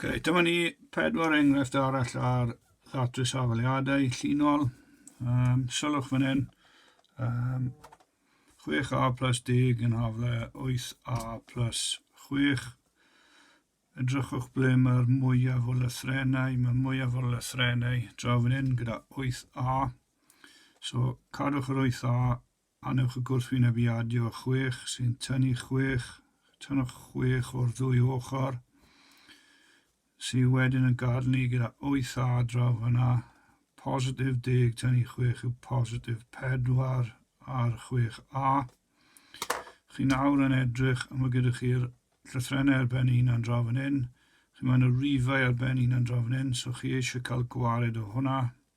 Okay, dyma ni pedwar enghraifft arall ar ddatrys safeliadau llinol. Um, sylwch fan hyn, um, 6a plus 10 yn hafle 8a plus 6. Edrychwch ble mae'r mwyaf o lythrenau. Mae mwyaf o lythrenau draw fan hyn gyda 8a. So cadwch yr 8a Annwch y gwrthwynebiadio chwech sy'n tynnu chwech, tynnwch chwech o'r ddwy ochr, sydd wedyn yn gadael ni gyda wyth adra fyna, positif deg tynnu chwech yw positif pedwar ar chwech a. Chi nawr yn edrych, a mae gyda chi'r llythrennau ar ben un a'n draw fan hyn, chi mae yna rifau ar ben un a'n draw fan hyn, so chi eisiau cael gwared o hwnna,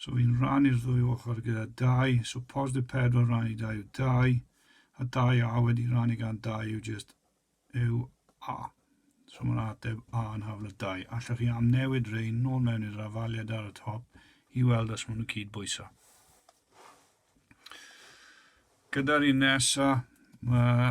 So fi'n rannu'r ddwy ochr gyda 2, so positif 4 rannu 2 yw 2, a 2a wedi rannu gan 2 yw just yw a. So mae'n ateb a yn hafl 2. Allwch chi am newid rei nôl mewn i'r afaliad ar y top i weld os maen nhw cyd bwysa. Gyda'r un nesa, mae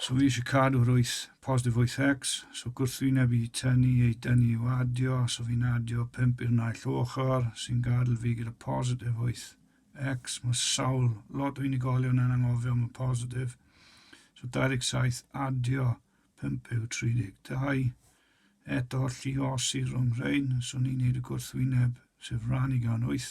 So fi eisiau cadw rwyth positif 8x, so gwrthwyneb i tynnu ei dynnu i'w adio, so fi'n adio 5 i'r naill ochr, sy'n gadw fi gyda positif 8x, mae sawl lot o unigolion yn anghofio am y positif, so 27 adio 5 yw 32, eto lliosi rhwng rhain, so ni'n neud y gwrthwyneb, sef rhan i gan 8,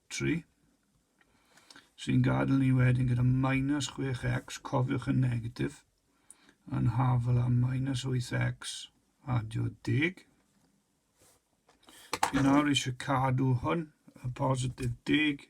3. Sy'n gadael ni wedyn gyda minus 6x, cofiwch yn negatif, yn hafel a minus 8x adio deg. Fi nawr eisiau cadw hwn, y positif deg,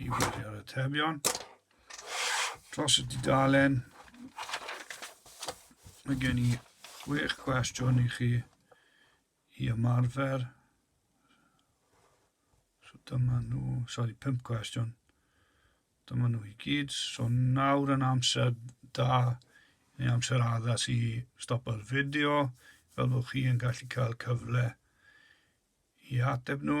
i ddechrau ar y tebion dros y dudalen mae gen i chwech cwestiwn i chi i ymarfer so dyma nhw sori pump cwestiwn dyma nhw i gyd so nawr yn amser da neu amser addas i stopo'r fideo fel bod chi yn gallu cael cyfle i ateb nhw.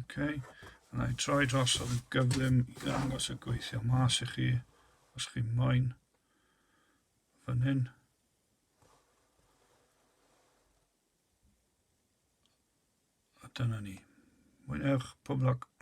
Okay. A na i troi dros ar y gyflym i ddangos y gweithio mas i chi, os chi moyn. Fan hyn. A dyna ni. Mwynhewch, pob lwc.